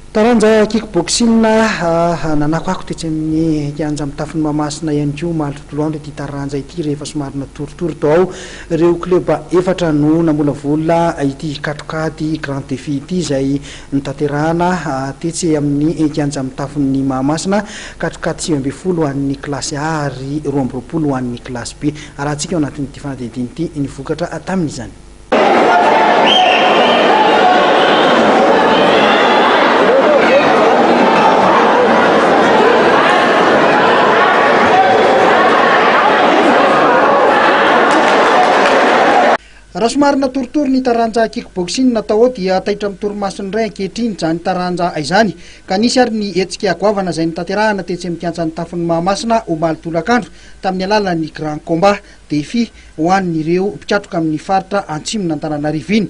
Taranja kickboxing nanakoako tetsy amin'ny kianja mitafon'i Mahamasina ihany koa omaly tontolo andro ity taranja ity rehefa somary natoritory tao ao. Ireo kleba efatra no namolavola ity katroka ady grand défi ity izay notanterahana tetsy amin'ny kianja mitafon'i Mahamasina. Katroka ady sivy ambin'ny folo ho an'ny kilasy A ary roa amby roapolo ho an'ny kilasy B. Arahantsika ao anatin'ity fanadihadiana ity ny vokatra tamin'izany. Raha somary natoritory ny taranja kickboxing tao dia taitra amin'ny torimasony indray ankehitriny izany taranja izany ka nisy ary ny hetsika goavana izay notanterahana tetsy amin'ny kianjan'ny tafon'i Mahamasina omaly tolakandro tamin'ny alalan'ny grand combat. Défi ho an'ireo mpikatroka amin'ny faritra Atsimon'Antananarivo iny.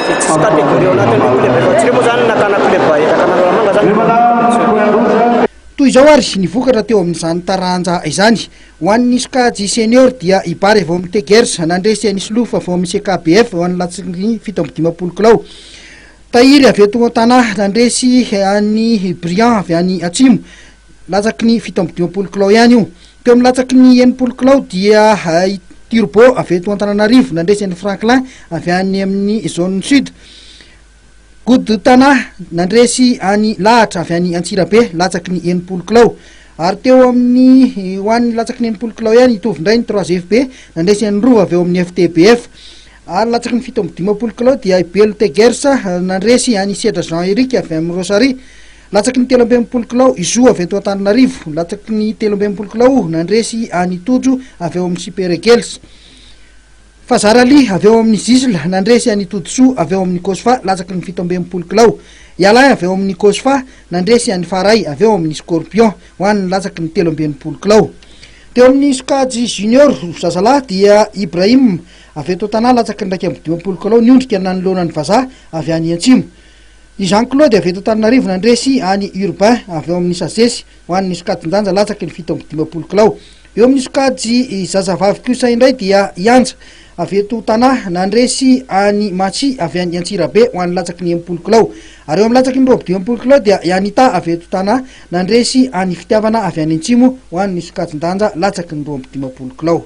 Tsy catégorie ao anatin'ny hoe club efa tsy re moa izany na tana club bahetra tana Analamanga izany no competition. Toy izao ary ny vokatra teo amin'izany taranja izany. Ho an'ny sokajy senior dia i Bary vao amin'ny Tegers nandresy an'i Solofa vao amin'ny CKBF eo amin'ny latsiny fito amby dimampolo kilao. Tahiry avy eto Tana nandresy an'i Briand avy any Atsimo. Latsaky ny fito amby dimampolo kilao ihany io. Teo amin'ny latsaky ny enimpolo kilao dia i Turbo avy eto Antananarivo nandresy an'i Franklin avy any amin'ny Zone Sud. Good Tana nandresy any lahatra avy any Antsirabe latsaky ny enimpolo kilao. Ary teo amin'ny ho an'ny latsaky ny enimpolo kilao ihany hitovy indray ny 3FB nandresy an'i Rova avy eo amin'ny FTBF. Ary latsaky ny fito amby dimampolo kilao dia i Belo Tegers nandresy an'i Sedra Jean Eric avy amin'ny Rosary. Latsaky ny telo amby enimpolo kilao i Zo avy eto Antananarivo. Latsaky ny telo amby enimpolo kilao nandresy an'i Tojo avy ao amin'ny Super Eagles. Fazar Ali avy ao amin'ny Zisl nandresy an'i Todisoa avy ao amin'ny Cosfa latsaky ny fito amby enimpolo kilao. I Alain avy ao amin'ny Cosfa nandresy an'i Faray avy ao amin'ny Scorpion ho an'ny latsaky ny telo amby enimpolo kilao. Teo amin'ny sokajy junior zazalahy dia Ibrahim avy eto Tana latsaky ny iraika amby dimampolo kilao niondrika nanoloana ny vazaha avy any Antsimo. I Jean Claude avy eto Antananarivo nandresy any Urbain avy ao amin'ny Sages ho an'ny sokajin-danja latsaky ny fito amby dimampolo kilao. Eo amin'ny sokajy zazavavy kosa indray dia i Anja avy eto Tana nandresy an'i Matsi avy any Antsirabe ho an'ny latsaky ny enimpolo kilao. Ary eo amin'ny latsaky ny roapy dimampolo kilao dia i Anita avy eto Tana nandresy an'i Fitiavana avy any Antsimo ho an'ny sokajin-danja latsaky ny roa amby dimampolo kilao.